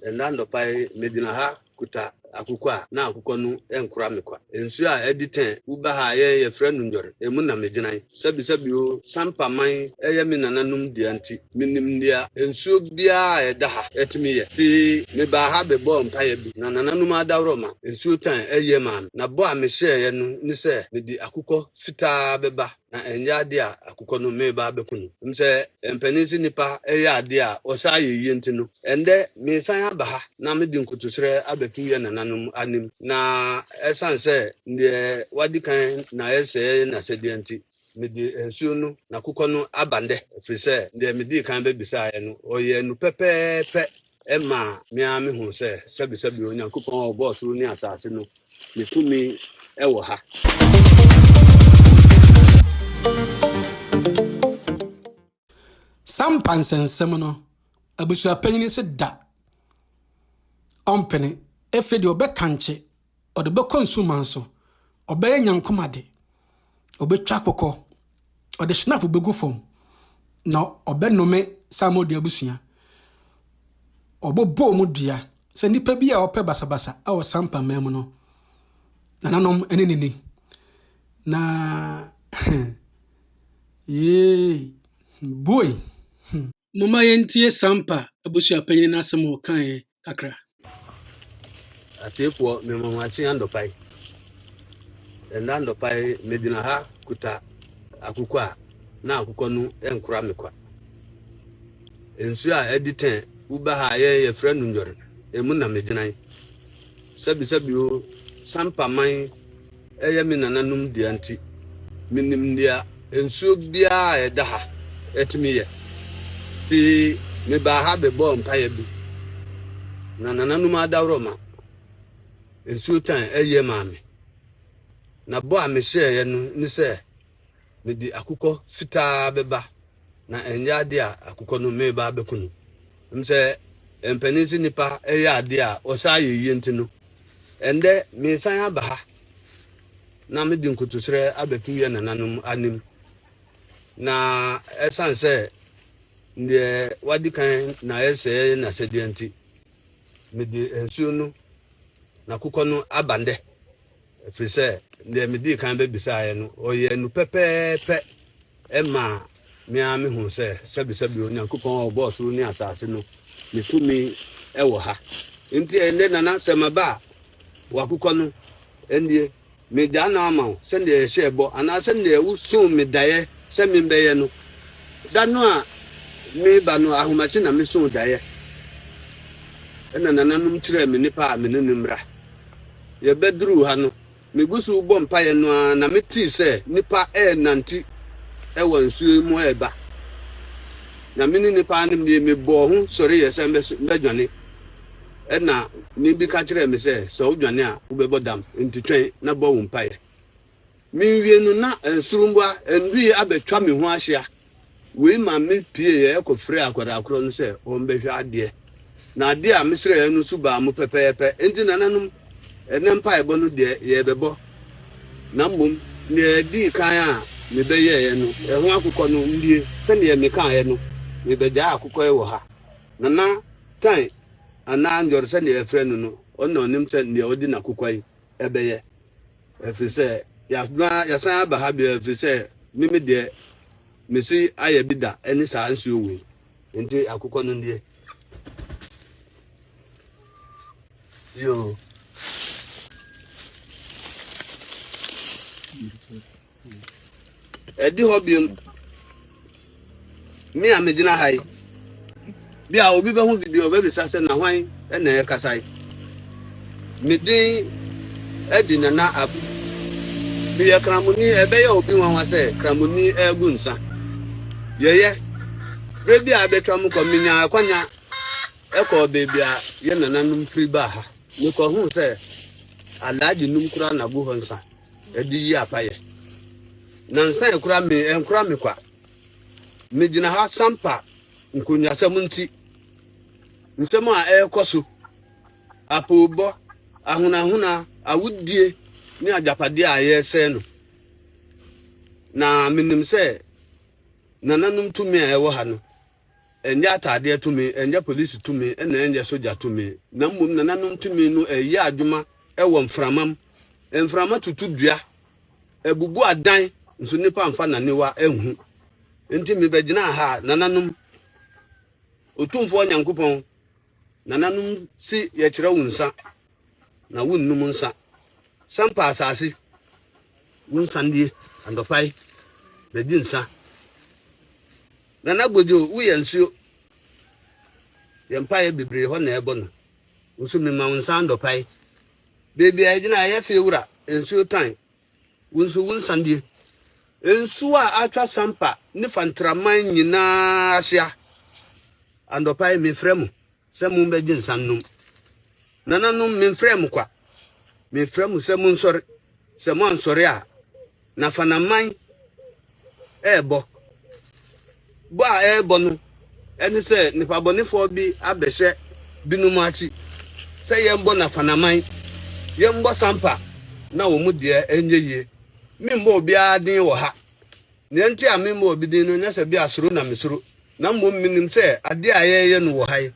Ɛnnɛ anɔpa yi megyina ha kuta akokɔ a na akokɔ no nkora me kwa. Nsuo a adi tɛn wuba ha a yɛn yɛfrɛ no Ndwɔre, emu na megyina yi. Sɛbisɛbi o, Sampa man yɛ me nananom dea nti, menim nea nsuo biara a ɛda ha tumi yɛ. Fii mebaa ha bɛbɔɔ mpaeɛ bi na nananom adaworoma nsuo tan yie maa me, na bɔ a mehyɛeɛ no ne sɛ mede akokɔ fitaa bɛba Na ɛnyɛ ade a akokɔ no mereba abɛku no. Nim sɛ mpanin se nnipa yɛ ade a wɔsaa yɛ yie nti no, ɛnnɛ meresan aba ha na mede nkotosrɛ abɛto yɛn nananom anim. Na ɛsiane sɛ deɛ wadi kan na ayɛ sɛ ɛyɛ n'asɛdeɛ nti, mede nsuo no na akokɔ no aba nnɛ, ɛfiri sɛ deɛ medii kan bɛbisaeɛ no, ɔyɛɛ no pɛpɛɛpɛ ɛmaa me ara mehuu sɛ sɛbesɛbe Onyankopɔn a ɔbɔɔ soro ne asase no Me tumi wɔ ha. Sampa nsɛnsɛm no, abusuapanyin se da ɔmpene. Afei deɛ ɔbɛkankye, ɔde bɛkɔ nsuman so, ɔbɛyɛ nyankomade. ɔbɛtwa kɔkɔ, ɔde hyinap bɛgu fam, na ɔbɛnome Samuel Dua abusua. Ɔbɔbɔ wɔn dua sɛ nnipa bi a wɔpɛ basabasa wɔ sampa man mu no, nananom ne ne ni. Na yee, boy. Hmm. momma yɛntie Sampa abusuapanyin no asɛm a ɔkaeɛ kakra. Atiefoɔ, mema mo akye anɔpa yi. Ɛnna anɔpa yi, megyina ha kuta akokɔ a na akokɔ no nkora me kwa. Nsuo a adi tɛn woba ha a yɛn yɛfrɛ no nnwɔre, emu na megyina yi. Sɛbisɛbi o, Sampa man Ɛyɛ me nananom dea nti, minim nea nsuo biara a ɛda ha tumi yɛ. Enti mebaa ha bɛbɔɔ mpaeɛ bi, na nananom adaworoma nsuo tan yɛ maa me. Na bɔ a mehyɛeɛ no ne sɛ, Mede akokɔ fitaa bɛba, na ɛnyɛ ade a akokɔ no meba abɛko no. Ɛwom sɛ mpanyin se nnipa yɛ ade a wɔsaa yɛ yiye nti no, ɛnnɛ meresan aba ha na mede nkotosrɛ abɛto yɛn nananom anim. Na ɛsan sɛ deɛ wadi kan na ɛsɛɛ n'asɛdeɛ nti, mede nsuo no na akokɔ no aba nnɛ Ɛfiri sɛ deɛ medii kan bɛbisaeɛ no, ɔyɛɛ no pɛpɛɛpɛ. Ɛmaa me ara mehuu sɛ sɛbesɛbe Onyankopɔn a ɔbɔɔ soro ne asase no, ne tumi wɔ ha. Enti ɛnnɛ, Nana, sɛ maba a, w'akokɔ no nie. Megyaa no ama wo sɛdeɛ yɛhyɛɛ bɔ, anaa sɛdeɛ wosoo me daeɛ sɛ membɛyɛ no. Da no a mereba no, ahomakye na mesoo daeɛ, ɛnna nananom kyerɛɛ me nnipa a me ne no mmra. Yɛbɛduruu ha no, megu so rebɔ mpaeɛ no ara na metee sɛ nnipa renante wɔ nsuo yi mu reba, na me ne nnipa no mmie, mebɔɔ ho sɔreeɛ sɛ mɛdwane. Ɛnna nne bi ka kyerɛɛ me sɛ, Sɛ wodwane a, wobɛbɔ dam, enti twɛn na bɔ wo mpaeɛ. Menwie no na nsoromma nnui abɛtwa me ho ahyia. Wei ma me pieeɛ kɔfrɛɛ akwadaa korɔ no sɛ ɔmmɛhwɛ adeɛ. Na adeɛ a mesrɛeɛ no su baa mu pɛpɛɛpɛ. Enti nananom, ɛnnɛ mpaebɔ no deɛ yɛrebɛbɔ, na mmom deɛ ɛdii kan a mebɛyɛeɛ no, ɛho akokɔ no nie. Sɛdeɛ mekaeɛ no, mebɛgyaa akokɔ yi wɔ ha. Nana Tan anaa Njor sɛdeɛ yɛfrɛ no no, ɔno na ɔnim sɛ deɛ ɔde n'akokwa yi bɛyɛ. Ɛfiri sɛ yɛasna, yɛasan aba ha bio, ɛfiri sɛ me me deɛ, mesi ayɛ bi da ɛne saa nsuo wei. Nti akokɔ no nie. Yoo. Ɛdi hɔ biom, me a megyina ha yi, bi a obi bɛho video ɔbɛbisa sɛ na hwan na ɛkasa yi. Me din adi Nana Abu. Meyɛ Kramoni, ɛbɛyɛ obi nwanwa sɛ Kramoni ɛregu nsa. Yɛyɛ, berɛ bi a abɛtwa mu kɔ, menyaa akwanya ɛkɔɔ baabi a yɛ nananom firi baa ha. Mekɔhuu sɛ Alhaji nom koraa na gu hɔ nsa. Ɛde yi apa yɛ. Nansa yɛ kora me ɛnkora me kwa. Me gyina ha sampa nkonwasɛm nti. Nsɛm a ɛrekɔ so, apoobɔ, ahonahona, awudie ne agyapadeɛ a yɛresɛe no. Na menim sɛ nananom tumi a ɛwɔ ha no Ɛnyɛ ataadeɛ tumi, ɛnyɛ polisi tumi, ɛna ɛnyɛ sogya tumi, na mmom nananom tumi no ɛyɛ adwuma ɛwɔ mframam. Mframa tutu dua, ɛbubu adan, nso nnipa mfa naniwa ɛnhu. Nti me bɛgyinaa ha, nananom, Otumfoɔ Nyankopɔn, nananom si yɛkyerɛ wo nsa, Na wonnom nsa. Sampa asase, wo nsa nie anɔpa yi, na di nsa. Nana Gbojo, woyɛ nsuo. Yɛn mpaeɛ bebree hɔ na ɛbɔ no. Wo nso mema wo nsa anɔpa yi. Baabi a ɛgyina ɛyɛ fie wura, nsuo tan. Wo nso wo nsa nie. Nsuo a atwa Sampa ne Fantraman nyinaa ahyia. Anɔpa yi mefrɛ mo. Sɛ mommɛgye nsa nnom. Nananom, memfrɛɛ mo kwa. Mefrɛ mo sɛ monsɔre. Sɛ moansɔre a, na Fanaman rebɔ. Bɔ a ɛrebɔ no ne sɛ nnipabɔnefoɔ bi abɛhyɛ binom akyi sɛ yɛmbɔ na Fanaman, yɛmbɔ Sampa na wɔn deɛ nyɛ yie. Memmɔ obiara den wɔ ha. Nea enti a memmɔ obi din no nyɛ sɛ ebia suro na misuro, na mmom minim sɛ ade a yɛreyɛ no wɔ ha yi,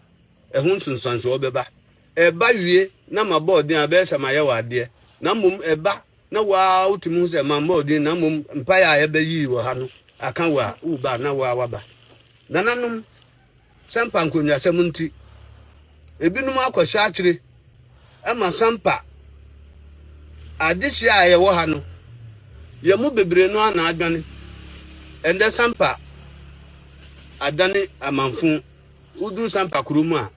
ɛho nsunsuanso bɛba. Ɛba wie na mabɔ wo din a, ɛbɛyɛ sɛ mayɛ wo adeɛ, na mmom ɛba na wo ara wutumi hu sɛ mammɔ wo din na mmom mpae a yɛbɛyii wɔ ha no aka wo a, woba a na wo ara woaba. Nananom. Sampa nkonnwasɛm nti, ebinom akɔhyɛ akyere ma Sampa adehye a yɛwɔ ha no. Yɛn mu bebree no ara na adwane. Ɛnnɛ Sampa adane amanfõ. Woduru Sampa kuro mu a,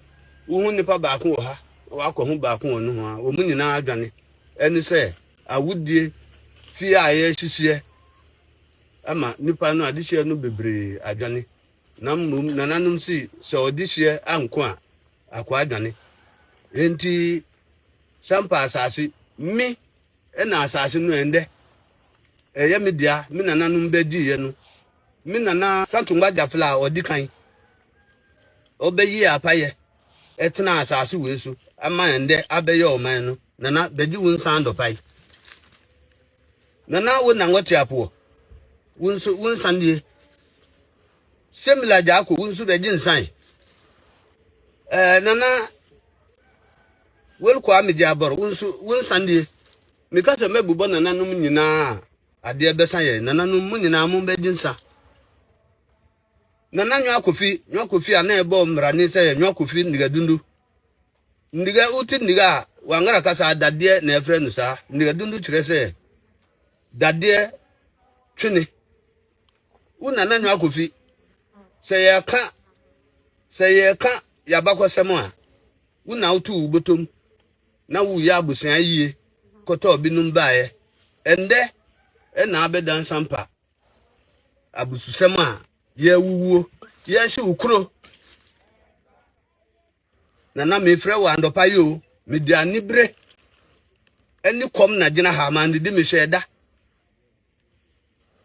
wohu nnipa baako wɔ ha, wakɔ ho baako wɔ nohoa. Wɔn nyinaa adwane. Ɛne sɛ awodie fie a yɛrehyehyeɛ ama nnipa no, adehyeɛ no bebree adwane. Na mmom nananom sii sɛ ɔde hyeɛ anko a, akoa dwane. Enti Sampa asase, me na asase no ɛndɛ ɛyɛ me dea, me nananom bɛdiiɛ no, me nana Santungba Gyafla a ɔdi kan, ɔbɛyii apayɛ ɛtenaa asase wei so ama ɛndɛ abɛyɛ ɔman no, Nana Bɛgye Wunsan Dɔpae. Nana wo nangwa tiapoɔ wo nso wo nsa nie semila gyaako wo nso bɛgye nsan ɛɛ nana welkɔ amegye abɔrɔ wo nso wo nsa nie meka sɛ mɛbobɔ nananom nyinaa adeɛ bɛsa yɛn nananom mo nyinaa mo bɛgye nsa nana nwa kofi nwa kofi a na ɛbɔ mmara ne sɛ nwa kofi nnigadundu Nniga, wote nniga a, Wangara kasa a, dadeɛ na ɛfrɛ no saa. Nniga dundu kyerɛ sɛ dadeɛ twene. Wo Nana Nwaah Kofi, sɛ yɛka sɛ yɛka yɛabakɔsɛm a, wo na woto wo botom na woyɛ abosea yie kɔtɔɔ binom baeɛ. Ɛndɛ ɛna abɛda nsampa abususɛm a yɛawuwuo, yɛahye wo kuro. Nana mefrɛ wo anɔpa yi o, mede anibere ne kɔm na gyina ha, mannidi mehyɛ ɛda.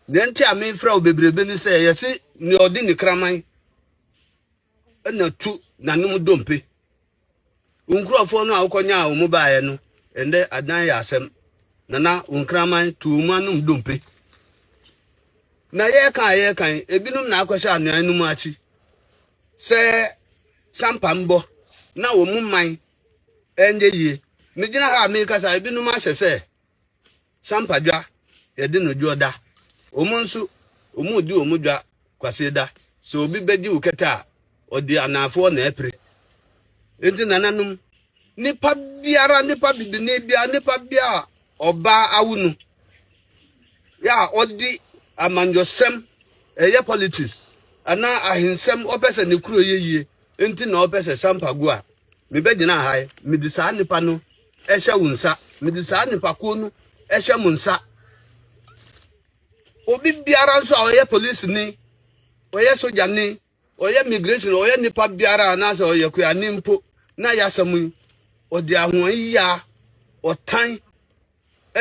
Nea nti a mefrɛ wo bebrebe ne sɛ yɛse nea ɔde ne kraman na tu nanom dompe. Wo nkurɔfoɔ no a wokɔnyaa wo mu baeɛ no, ɛndɛ adan yɛ asɛm. Nana wo nkraman tu wo mu anom dompe. Na yɛka a yɛka yi, ebinom na akɔhyɛ anuan no mu akyi. sɛ sampa mbɔ na wɔn mman nyɛ yie. Megyina ha a merekasa yi, ebinom ahyɛ sɛ sampa dwa yɛde no dwoɔ da. Wɔn nso, wɔredi wɔn dwa Kwasieda. Sɛ obi bɛgye wo kɛtɛ a, ɔde anaafoɔ na apire. Enti nananom, nipa biara, nipa bibini biara, nipa biara a ɔbaa awo no, yɛ a ɔde amanyɔsɛm, ɛyɛ politics, anaa ahensɛm, ɔpɛ sɛ ne kuro yɛ yie, nti na ɔpɛ sɛ sampa gu a, mebɛgyina ha yi, mede saa nipa no ɛhyɛ wo nsa, mede saa nipakuo no ɛhyɛ mo nsa. Obi biara nso a ɔyɛ polisini, ɔyɛ sogyani, Ɔyɛ migration, ɔyɛ nipa biara anaasɛ ɔyɛ kuani mpo na y'asɛm yi, ɔde ahoɔyiyaa, ɔtan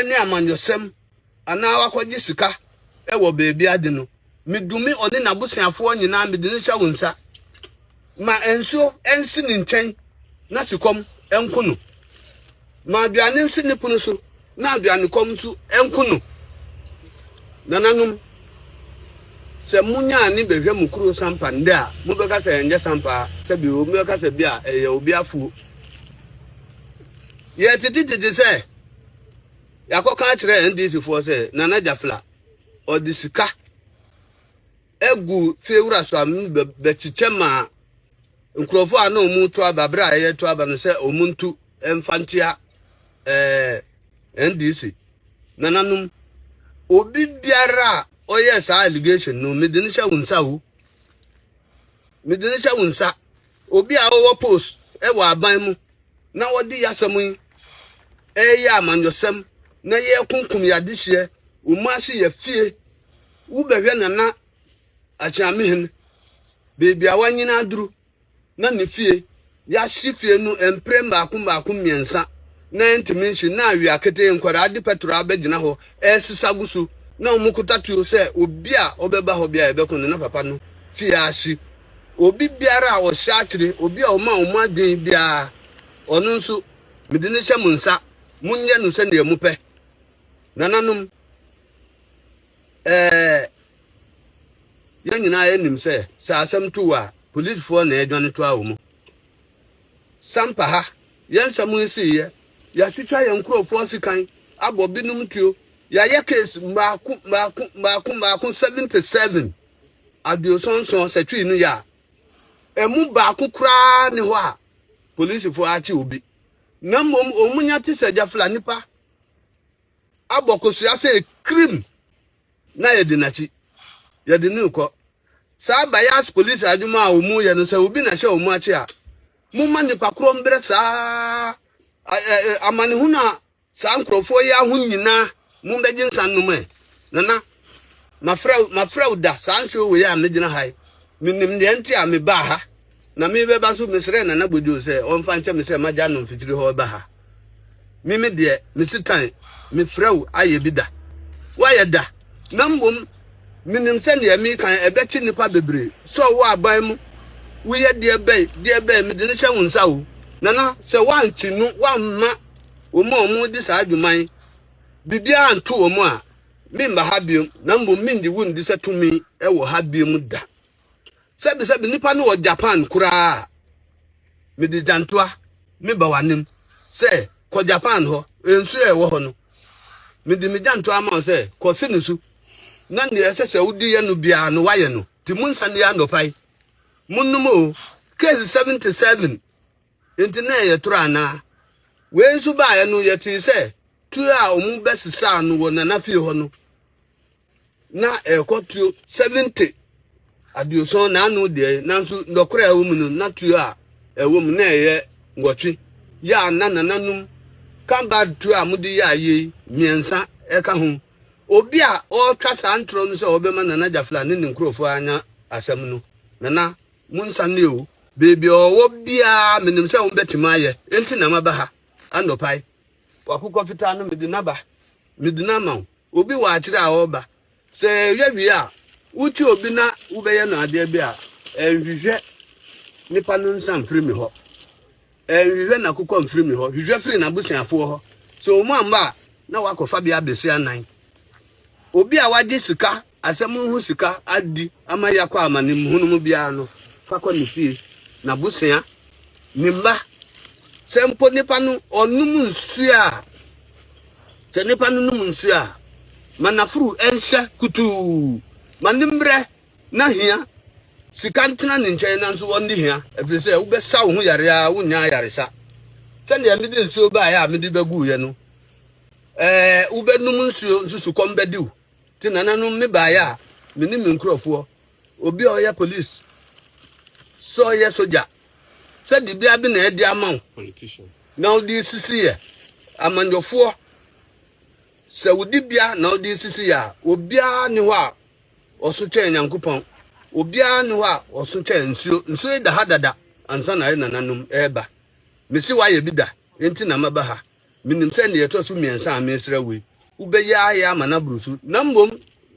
ne amanyɔsɛm anaa wakɔgye sika wɔ baabi ade no, medumi ɔne n'abosuafoɔ nyinaa mede no hyɛ wo nsa. Ma nsuo nsi ne nkyɛn na sikɔm nko no. Ma aduane nsi ne pono so na aduanekɔm nso nku no. Nananom, sɛ monya ani bɛhwɛ mo kuro sampa nnɛ a, mobɛka sɛ ɛnyɛ sampa, sɛbi obi bɛka sɛ bi a ɛyɛ obi afuo. Yɛtete gyegye sɛ yɛakɔka akyerɛ NDC foɔ sɛ Nana Jafla ɔde sika agu fie wura so a bɛkyekyɛ ma nkurɔfo a na wɔn to aba bere a ɛyɛ to aba no sɛ wɔn ntu mfa nkyia ɛɛ ndc nananom obi biara a ɔyɛ saa allegation no mede no hyɛ wo nsa o mede no hyɛ wo nsa obi a ɔwɔ post ɛwɔ aban mu na wɔde yasɛm yi ɛyɛ amanyɔsɛm na yɛkunkum yɛadehyeɛ wɔn ase yɛ fie. Wo bɛhwɛ Nana Akyeamehin baabi a wanyini aduru na ne fie yɛahye fie no mpre mmaako mmaako mmiɛnsa na ɛntumi nhye na awia ketee nkwadaa de pɛtro abɛgyina hɔ ɛresesa gu so na wɔn kuta tuo sɛ obi a ɔbɛba hɔ bia yɛbɛko no na papa no fie ahye obi biara a ɔhyɛ akyere obi a ɔma wɔn adwene biara ɔno nso mede ne hyɛ mo nsa monyɛ no sɛdeɛ mopɛ nananom Ɛɛ, yɛn nyinaa yɛnim sɛ, sɛ asɛm to wo a, polisfoɔ na ɛdwane toa wo mu. Sampa ha, yɛn nsɛm yi siiɛ, yɛatwitwa yɛn nkurɔfoɔ sekan, abɔ binom tuo, yɛayɛ case mmaako mmaako mmaako mmaako 77, aduoson nson, sɛ twii no yɛ a, ɛmu baako koraa nni hɔ a polisfoɔ akye obi, na mmom wɔn nya te sɛ gyafla nnipa. abɔ kosua sɛ kirim na yɛdi n'akyi. Yɛde no rekɔ. Saa bias police adwuma a wɔyɛ no, sɛ obi na ɛhyɛ wɔn akyi a, momma nnipa korɔ mbrɛ saa amanehunu a saa nkurɔfoɔ yi aho nyinaa mombɛgye nsa nnom ɛ. Nana, mafrɛ wo da, saa nsuo wei a megyina ha yi, menim deɛ nti a mebaa ha. Na me bɛba so mesrɛɛ Nana Gwadwo sɛ ɔmfa nkyɛ me sɛ magya no mfikyiri hɔ reba ha. Me me deɛ, me Sitan, mefrɛ wo ayɛ bi da. Woayɛ da, na mmom menim sɛ deɛ mereka yi ɛbɛkye nnipa bebree. Sɔɔ wo aban mu, woyɛ deɛ bɛn, deɛ bɛn, mede no hyɛ wo nsa o. Nana, sɛ woankye no, woamma wɔn a wɔredi saa dwuma yi biribiara anto wɔn a, meremma ha biom, na mmom merennye wo nni sɛ tumi wɔ ha biom da. Sɛbi sɛbi nnipa no wɔ Japan koraa a, mede gyantoa meba w'anim sɛ, Kɔ Japan hɔ, nsu a ɛwɔ hɔ no, mede me gyantoa ama wo sɛ, kɔ se no so, na nea ɛsɛ sɛ wode yɛ no biara no, woayɛ no. Nti monsa nni anɔpa yi, monnom o. Case 77 Enti na ɛyɛ toro anaa? Wei nso baeɛ no, yɛtee sɛ tuo a wɔbɛsesaa no wɔ Nana fie hɔ no, na ɛkɔ tuo seventy aduoson na ano deɛ nanso nɔkorɛ a ɛwɔ mu no na tuo a ɛwɔ mu na ɛyɛ nwɔtwe yɛ a na nananom kambad tuo a mode yɛ ayɛ yi mmiɛnsa ɛka ho obi a ɔretwa saa ntorɔ no sɛ ɔbɛma nana gyafla ne ne nkurɔfoɔ anya asɛm no nana monsa ne o beebi a ɔwɔ biara menim sɛ wombɛtumi ayɛ enti na maba ha anɔpae wakokɔ fitaa no mede naba mede no ama wo Obi wɔ akyere a ɔreba. Sɛ ɛyɛ wie a, wote obi na wobɛyɛ no adeɛ bi a, ɛnhwehwɛ nipa no nsa mfiri me hɔ. Ɛnhwehwɛ n'akokɔ mfiri me hɔ. Hwehwɛ firi n'abusuafoɔ hɔ. Sɛ wɔn amma a, na woakɔfa bea bɛsi anan. Obi a wagye sika Asɛm ho sika adi ama yɛakɔ amanem hunu mu biara no, fa kɔ ne fie, n'abusua, ne mma. Sɛ mpo nipa no ɔnom nsuo a, sɛ nipa no nom nsuo a, ma n'afuru nhyɛ kutuu. Ma ne mmerɛ na hia sika ntena ne nkyɛn nanso ɔnni hia, ɛfiri sɛ wobɛsa wo ho yare ara wonnya ayaresa. Sɛdeɛ mede nsuo baeɛ a mede bɛguuɛ no, ɛɛ, wobɛnom nsuo nso sukɔm bɛdi wo. Te nananom me baeɛ a me ne me nkurɔfoɔ obi a ɔyɛ police sɛ ɔyɛ sogya sɛ dibea bi na ɛde ama wo na wode sisi yɛ amanyɔfoɔ sɛ wo dibea na wode sisi yɛ a obiara ne hɔ a ɔso kyɛn Nyankopɔn obiara ne hɔ a ɔso kyɛn nsuo nsuo yi da ha dada ansa na yɛ nananom ɛreba mesi wayɛ bi da enti na maba ha Minim sɛ nea ɛtɔ so mmiɛnsa a meresrɛ wo yi, wobɛyɛ ayɛ ama no aboro so. Na mmom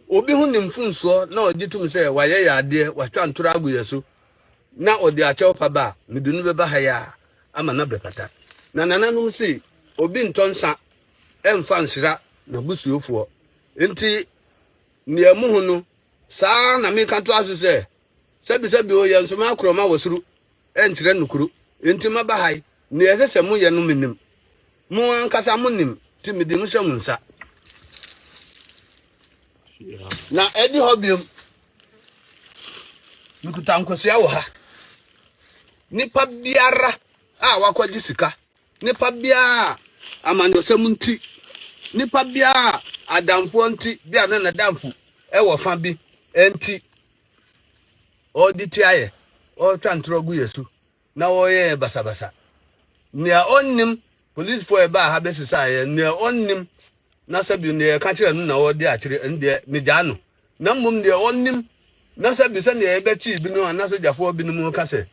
obi ho ne mfomsoɔ na ɔgye tom sɛ wayɛ yɛn adeɛ, watwa ntorɔ agu yɛn so, na ɔde akyɛwpa ba a, mede no bɛba ha yi ara ama no abɛfata. Na nananom se, Obi ntɔ nsã mfa nsra n'abusuofoɔ. Enti nea ɛmu ho no, saa ara na meka toa so sɛ, Sɛbisɛbi o, yɛn nso m'akorɔ ma wɔ soro nkyerɛ nokuro, enti maba ha yi, nea ɛsɛ sɛ moyɛ no menim. Mo ankasa monim, nti mede mo hyɛ mo nsa. Na ɛde hɔ biom, mekuta nkosua wɔ ha. Nipa biara a wakɔgye sika, nipa biara a amanyɔsɛm nti, nipa biara a adamfoɔ nti, bi a na n'adamfo ɛwɔ fa bi nti, wɔde tia yɛ, wɔtwa ntorɔ gu yɛ so, na wɔyɛ yɛ basabasa. Nea ɔnnim polisifo a ɛbaa ha bɛsesaa yɛ, nea ɔnnim na sɛ bi nea ɛka kyerɛ no na ɔde akyerɛ, ɛno deɛ megyaa no. Na mmom deɛ ɔnnim na sɛ bi sɛnea yɛbɛkyee binom anaasɛ gyafoɔ binom ka sɛ,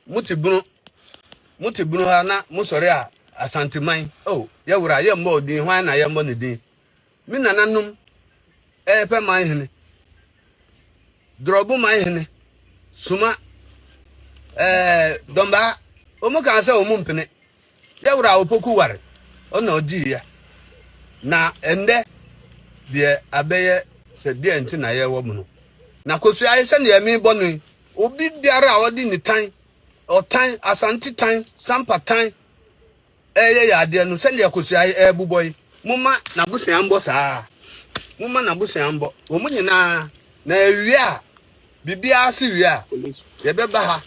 mote bunu, mote bunu ha na mosɔre a Asanteman, oh, yɛwora, yɛmmɔɔ din, hwan na yɛmmɔ ne din? Me nananom repɛ man hene, Dorɔbo man hene, Suma, ɛɛ, Dɔmbaa, wɔn kaa sɛ wɔn mpene. Yɛ wura Opoku ware, ɔna ɔgyee yɛ. Na ɛndɛ deɛ abɛyɛ sɛ deɛ nti na yɛwɔ mu no. Na Kosua ayɛ sɛ deɛ mebɔ no yi, obi biara a ɔde nitan, ɔtan, Asante tan, Sampa tan, reyɛ yɛn adeɛ no sɛdeɛ akosua yi rebobɔ yi momma n'abosea mbɔ saa ara momma n'abosea mbɔ wɔn nyinaa na ɛwie a biribiara se wie a yɛbɛba ha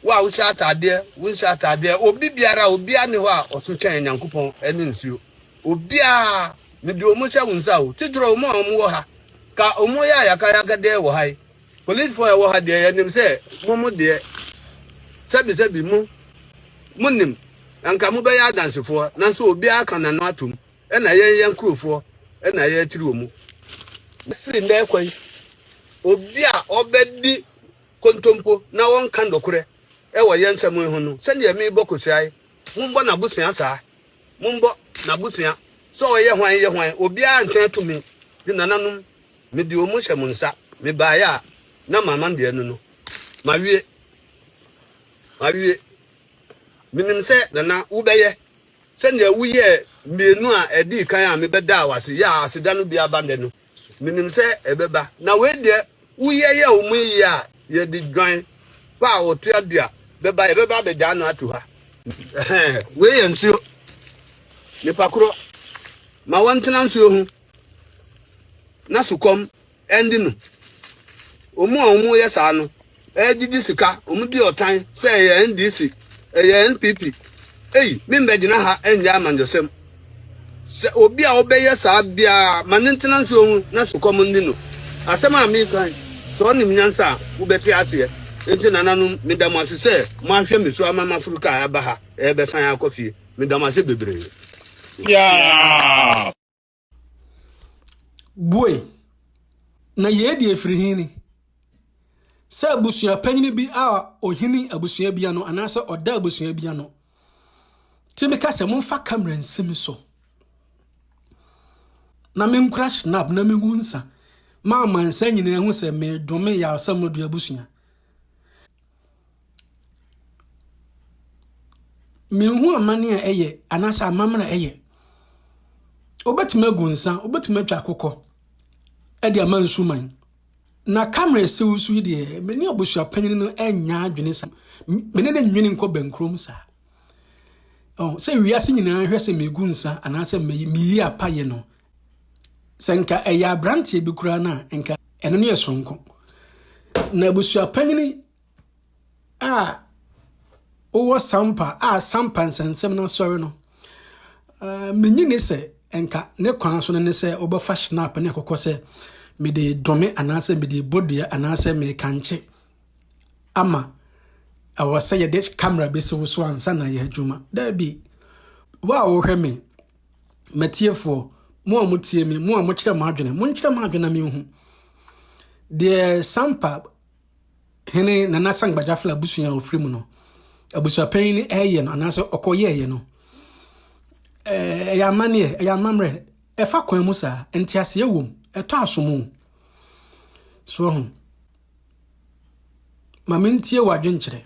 wo a wohyɛ ataadeɛ wonhyɛ ataadeɛ obi biara obiara ne hɔ a ɔso kyɛn nyankopɔn ne nsuo obiara mede wɔn hyɛ wo nsa o tidorɔ wɔn a wɔn wɔ ha ka wɔn yɛ ayakayakadeɛ wɔ ha yi Polisfoɔ a ɛwɔ ha deɛ, yɛnim sɛ mo mo deɛ, sɛbisɛbi mo, monim, anka mobɛyɛ adansefoɔ, nanso obiara ka n'ano atom, ɛna yɛn yɛn kurofoɔ ɛna yɛakyiri wɔn. Firi nnɛ rekɔ yi, obi a ɔbɛdi kontompo na ɔnka nokorɛ ɛwɔ yɛn nsɛm yi ho no, sɛdeɛ merebɔ Kosiaa yi, mombɔ n'abusua saa, mombɔ n'abusua, sɛ ɔyɛ hwan yɛ hwan, obiara ntwɛn tumi, de nananom Mede wɔn hyɛ mo nsa. Mebaeɛ a, na mama deɛ ɛno no. Mawie. Mawie. Menim sɛ, Nana, wobɛyɛ sɛdeɛ woyɛɛ mmienu a ɛdii kan a mebɛdaa wo ase yɛɛ a aseda no bi aba nnɛ no. Menim sɛ ɛbɛba. Na wei deɛ, woyɛ yɛɛ wɔn yie a, yɛde dwan pa a ɔtoa du a bɛba, yɛbɛba abɛgyaa no ato ha. Ɛhɛɛ, wei yɛ nsuo. Nipa korɔ, ma wɔntena nsuo ho. na sukɔm ɛnde no. Wɔn a wɔyɛ saa no ɛɛgyegye sika, wɔn di ɔtan sɛ ɛyɛ NDC, ɛyɛ NPP. Ei, me mbɛgyina ha ɛnyɛ amanyɔsɛm. Sɛ obi a ɔbɛyɛ saa biara ma ne ntena nsuo ho na sukɔm nni no. Asɛm a meka yi, sɛ ɔnim nyansa a, wobɛte aseɛ. Enti nananom, meda mo ase sɛ moahwɛ me so ama maforo kaa aba ha ɛɛbɛsan akɔ fie. Meda mo ase bebree. Yeah! Bue! Na yei deɛ firi he ni, sɛ abusua panyini bi a ɔhini abusua bi ano anaasɛ ɔda abusua bi ano te me ka sɛ momfa kamera nsi me so na menkura snap na mehu nsa ma amansa nyinaa hu sɛ medome yɛ asɛm no de abusua. Menhu amane a ɛyɛ anaasɛ amammerɛ a ɛyɛ. Wobɛtumi agu nsa, wobɛtumi atwa akokɔ de ama nsuman. Na Kamel siw nso yi deɛ, me ne abusuapanin no nnya adwene saa. Me ne no nnwene nkɔ bɛnkurom saa. Ɔho, sɛ wiase nyinaa hwɛ sɛ megu nsa anaasɛ meyi apa yɛ no, Sɛ nka ɛyɛ aberanteɛ bi koraa no a, nka ɛno ne yɛ soronko. Na abusua panyini a wowɔ sampa a sampa nsɛnsɛm no asɔre no, uh, menyi ne sɛ nka ne kwan so no ne sɛ wobɛfa shinap ne akokɔ sɛ mede dome anaasɛ mede bodua anaasɛ mekankye ama ɛwɔ sɛ yɛde camera bɛsi wo so ansa na yɛ adwuma. Daabi, wo a wohwɛ me M'atiefoɔ, mo a motie me, mo a mokyerɛ mo adwene, monkyerɛ mo adwene na menhu. Deɛ Sampa hene Nana Sangbajafla abusua a ɔfiri mu no, abusuapanyin no ɛyɛ no anaasɛ ɔkɔyɛɛyɛ no, ɛyɛ amanneɛ, ɛyɛ amammerɛ, ɛfa kwan mu saa, nteaseɛ wom, ɛtɔ asomu. So ho. Ma mentie w'adwenkyerɛ.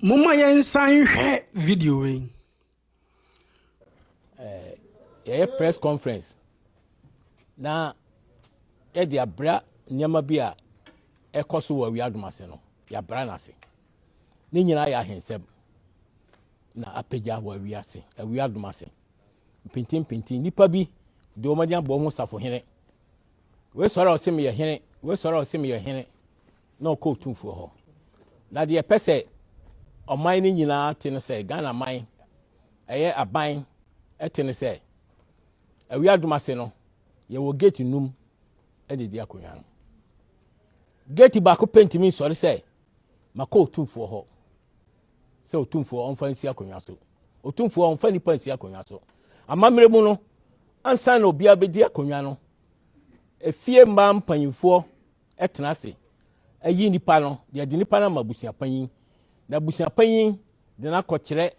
Momma yɛnsan nhwɛ video wei. Eh, yɛyɛ press conference na yɛde abira nneɛma bi a ɛkɔ so wɔ awiadom ase no yɛabira no ase ne nyinaa yɛ ahensɛm na apagya wɔ awiase awiadom ase mpintimpinti nnipa bi de wɔn ani abɔ ho safohene wei sɔre a ɔse meyɛ hene wei sɔre a ɔse meyɛ hene na ɔkɔ Otumfoɔ hɔ. Na deɛ ɛpɛ sɛ ɔman no nyinaa te no sɛ, Ghana man, ɛyɛ aban ɛte no sɛ, awia adom ase no, yɛwɔ gate num ɛna ɛdi akonnwa no. Gate baako pɛ ntumi nsɔre sɛ, makɔ Otumfoɔ hɔ sɛ Otumfoɔ ɔmfa nsi akonnwa so. Otumfoɔ ɔmfa nipa nsi akonnwa so. Amammerɛ mu no, ansa na obiara bɛdi akonnwa no, efie mmaa mpanyinfoɔ tena ase yi nipa no, yɛde nipa no ama abusuapanyin, na abusuapanyin de no akɔkyerɛ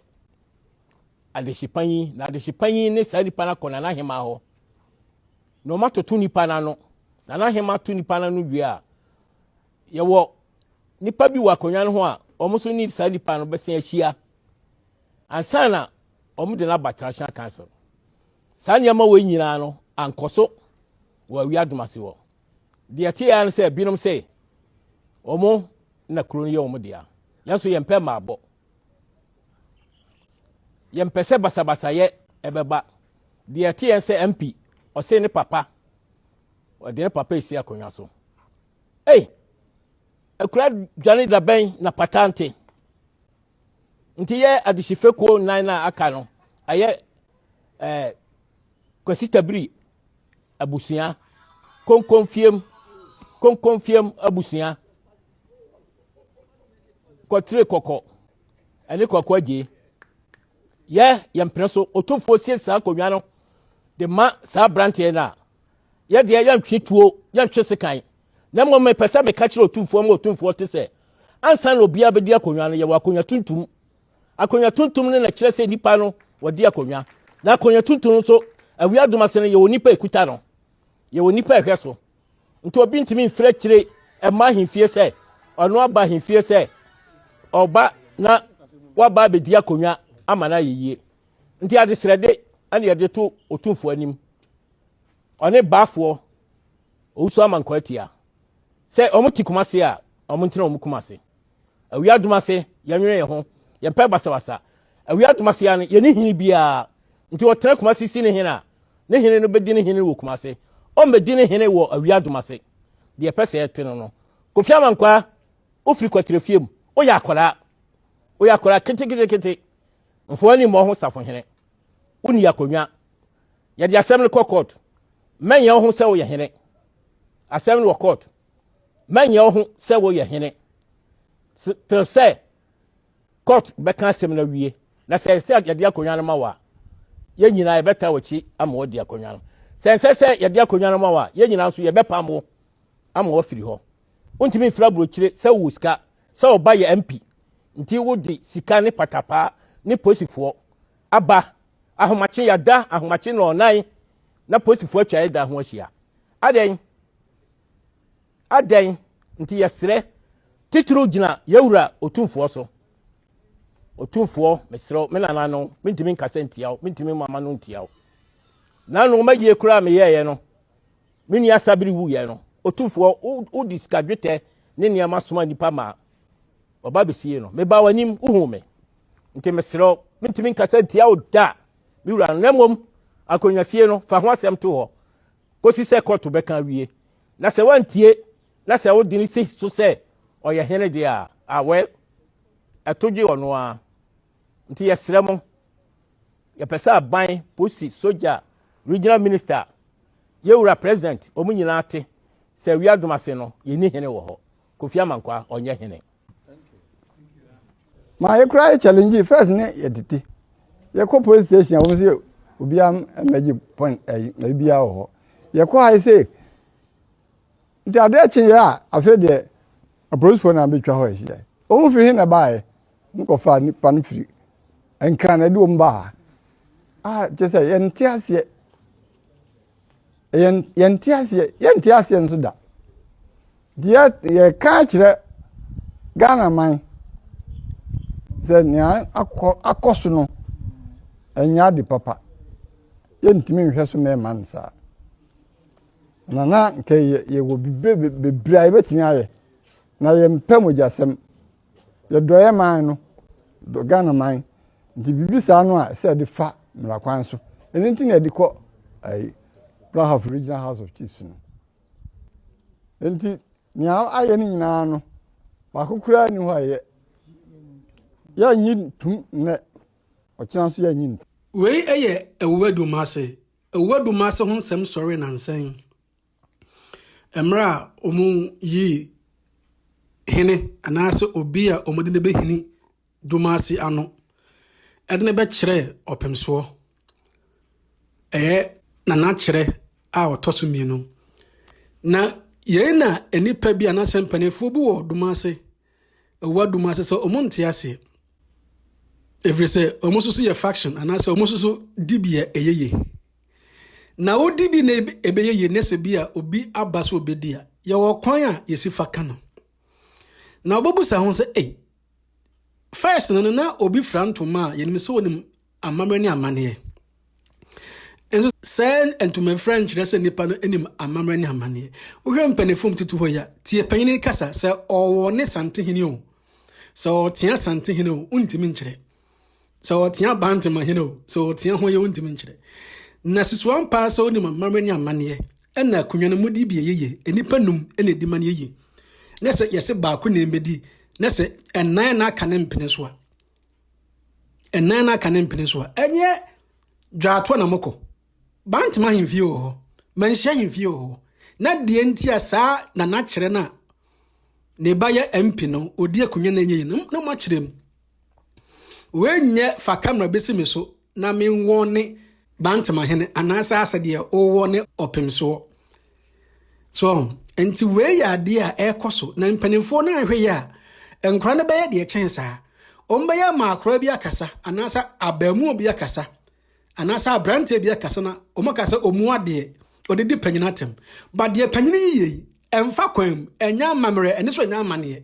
adehyepanyin, na adehyepanyin ne saa nipa no akɔ nanahema hɔ, na wɔatoto nipa no ano. Nanahema ato nipa no ano wie a, yɛwɔ nipa bi wɔ akonnwa no ho a wɔn nso ne saa nipa no bɛsen ahyia ansa na wɔde no aba Transnational Council. Saa nneɛma wɔ nyinaa no ankɔ so wɔ awi adomase hɔ. Deɛ ɛteɛ ara ne sɛ binom se wɔn na kuro no yɛ wɔn dea. Yɛn nso yɛmpɛ mmaabɔ. Yɛmpɛ sɛ basabasayɛ ɛbɛba. Deɛ ɛteɛ ne sɛ MP ɔse ne papa ɔde ne papa esi akonnwa so. Ei! Akura dwane dabɛn na pata nte. Nti yɛ adehye fekuo nnan na aka no ɛyɛ eh, Kwasi Tabiri Abusua, konkonfiem, konkonfiem abusua, kɔtire kɔkɔ ɛne kɔkɔ agyee. Yɛ yɛn mpene so otumfoɔ sie saa nkonnwa no de ma saa aberanteɛ no a yɛdeɛ yɛntwe tuo yɛntwe sekan na mmom mepɛ sɛ meka kyerɛ otumfoɔ ma otumfoɔ te sɛ ansa na obiara bɛdi akonnwa no yɛwɔ akonnwa tuntum Akonnwa tuntum no na ɛkyerɛ sɛ nnipa no wɔde akonnwa. Na akonnwa tuntum no nso, awia adum ase no yɛwɔ nnipa ekuta no. Yɛwɔ nnipa ɛhwɛ so. Nti obi ntumi mfiri akyire ɛma ahemfie sɛ ɔno aba ahemfie sɛ ɔba na waba abɛdi akonnwa ama no ayɛ yie. Nti adesrɛde ɛne yɛde to otumfoɔ anim. Ɔne baafoɔ owusu ama nkɔ atia sɛ wɔn ti kuma se a wɔn ntena wɔn kuma se. awia adum ase yɛnwene yɛn ho yɛmpɛ basabasa awia adum ase ya no yɛne hene biara nti ɔtena kuma ase si ne hene a ne hene no bɛdi ne hene wɔ kuma ase ɔmmɛdi ne hene wɔ awia adum ase deɛ ɛpɛ sɛ ɛte no no kofi amankwaa wofiri kwatire fie mu woyɛ akwadaa woyɛ akwadaa keteketekete mfoɔ ani mmɔ ho safo hene wonni akonnwa yɛde asɛm no kɔ court mɛnyɛ wo ho sɛ woyɛ hene asɛm no wɔ court mɛnyɛ wo ho sɛ woyɛ hene te sɛ court bɛka asɛm no awie na sɛ sɛ yɛde akonnwa no ma wo a yɛn nyinaa yɛbɛta w'akyi ama wadi akonnwa no sɛ nsɛ sɛ yɛde akonnwa no ma wo a yɛn nyinaa nso yɛbɛpam wo ama wafiri hɔ wontumi mfiri aburokyire sɛ wowɔ sika sɛ ɔba yɛ mp nti wode sika ne patapaa ne posifoɔ aba ahomakye yɛada ahomakye na ɔnan na posifoɔ atwa yɛda ho ahyia adɛn Adɛn nti yɛserɛ titiriw gyina yɛn Wura Otumfoɔ so? Otumfoɔ, mesrɛ wo, me nananom, mentumi nkasa ntia wo, mentumi mmɔ ama no ntia wo. Nano ma yie koraa meyɛeɛ no, me nua Sabiri wuiɛ no, Otumfoɔ, wode sika dwetɛ ne nneɛma soma nnipa maa wɔba bɛsiee no. Mebaa w'anim, wohuu me. Nti mesrɛ wo, mentumi nkasa ntia wo da, me wura no, na mmom akonnwasie no, fa ho asɛm to hɔ. kosi sɛ kɔɔto bɛka awie, na sɛ wantie na sɛ wode no si so sɛ ɔyɛ hene deɛ a, ah well, ɛto gye ɔno ara. Nti yɛsrɛ mo, yɛpɛ sɛ aban, polisi, sogya, regional minister, yɛwura president, wɔn nyinaa te sɛ wiadom ase no, yɛnni hene wɔ hɔ. Kofi Amankwa ɔnyɛ hene. Ma yɛ kura yɛ challenge first ne yɛ tete. Yɛ kɔ police station a wɔn sɛ obiara mmɛgye pɔn ɛyi na obiara wɔ hɔ. Yɛ kɔ ha sɛ nti adeɛ kye yɛ a afei deɛ apolisifoɔ na abɛtwa hɔ ahyia. Wɔn firi he na baeɛ wɔn kɔfa nipa no firi nkran na ɛde wɔn baa. Ah kyɛ sɛ yɛnte aseɛ. yɛnte aseɛ yɛnte aseɛ nso da deɛ yɛka akyerɛ ghana man sɛ nea akɔ akɔ so no ɛnyɛ ade papa yɛntumi nhwɛ so na ɛma no saa na na nka yɛwɔ bebree a yɛbɛtumi ayɛ na yɛmpɛ mogyasɛm Yɛdɔeɛ man no, dɔ Ghana man nti biribi saa no a ɛsɛ sɛ yɛde fa mmara kwan so. Ɛno nti na yɛde kɔ ɛyi Brahaf Regional House of Chiefs no. Nti nea ayɛ no nyinaa no baako koraa ni hɔ a yɛ yɛnyi ntum nnɛ ɔkyena nso yɛnyi ntum. Wei yɛ Awuwadu Mmase. Awuwadu Mmase ho nsɛm sɔree nansa yi. Mmerɛ a wɔyii hene anaa sɛ obi a wɔde no bɛhini Dumasi ano de no bɛkyerɛɛ Ɔpemsoɔ, ɛyɛ Nana Kyerɛ a ɔtɔ so mmienu. Na yei na nnipa bi anaasɛ mpanimfoɔ bi wɔ Dumasi, ɛwɔ Dumasi sɛ wɔn nte aseɛ. Ɛfiri sɛ wɔn nso so yɛ faction anaasɛ wɔn nso so di bia ɛyɛ yie. Na wodi bi na ɛbɛyɛ yie na sɛ bi a obi aba sɛ obɛdi a, yɛwɔ kwan a yɛsi fa ka no. Na wobɛbusa ho sɛ, ei, first no no na obi fra ntoma a yɛnim sɛ onim amammerɛ ne amanneɛ. Nso sɛ ntoma fra nkyerɛ sɛ nipa no anim amammerɛ ne amanneɛ. Wohwɛ mpanimfoɔ mu tutu hɔ yi a, tie panyin kasa sɛ ɔwɔ ne santehene o, sɛ ɔtea santehene o, wontumi nkyerɛ. Sɛ wɔtea Bantam ahene o, sɛ wɔtea ho yɛ wontumi nkyerɛ. Na susuw ampa sɛ wonim amammerɛ ne amanneɛ, ɛna akonnwa no mudi bi yɛ yie, nnipa num na edi ma no yɛ yie. Na sɛ yɛse baako na ɛmbɛdi, na sɛ ɛnan na aka ne mpene so a, ɛnan na aka ne mpene so a, ɛnyɛ dwaatoa na mokɔ. Bantam ahemfie wɔ hɔ, manhyia ahemfie wɔ hɔ. Na deɛ nti a saa nanakyerɛ no a ne ba yɛ MP no, ɔdi akonnwa no ɛnyɛ yie no, na moakyerɛ mu. Woanyɛ fa camera bɛsi me so na menwɔ ne Bantamahene anaasɛ asɛ deɛ wowɔ ne ɔpemsoɔ. So, nti wei yɛ adeɛ a ɛrekɔ so na mpanimfoɔ no anhwɛ yɛ a, nkora no bɛyɛ deɛ kyɛn saa. Wɔbɛyɛ ama akora bi akasa anaasɛ abaamuo bi akasa anaasɛ aberanteɛ bi akasa na wɔn aka sɛ wɔn adeɛ wɔde di panyin atɛm. Ba deɛ panyin yiyɛ yi, ɛmfa kwan mu, ɛnyɛ amammerɛ, ɛne so ɛnyɛ amaneɛ.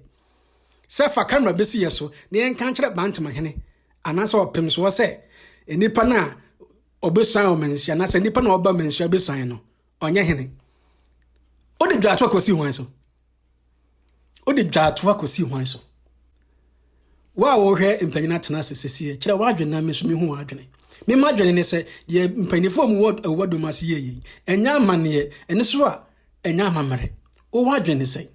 sɛ fa kamera bɛsi yɛ so na yɛnka nkyerɛ Bantamahene anaasɛ ɔpemsoɔ sɛ nnipa no a ɔbɛsuan ɔmanhyia na sɛ nnipa na ɔba manhyia bɛsuan no ɔnyɛ hene wode dwaatoa kɔsi hwan so wode dwaatoa kɔsi hwan so wo a wohwɛ mpanyin atena ase sɛsie kyerɛ woadwene na me so mehu woadwene mema adwene ne sɛ deɛ mpanyifoɔ mu wɔ dom ase yɛyei ɛnyɛ amanneɛ ɛne so a ɛnyɛ amammerɛ wowɔ adwene ne sɛ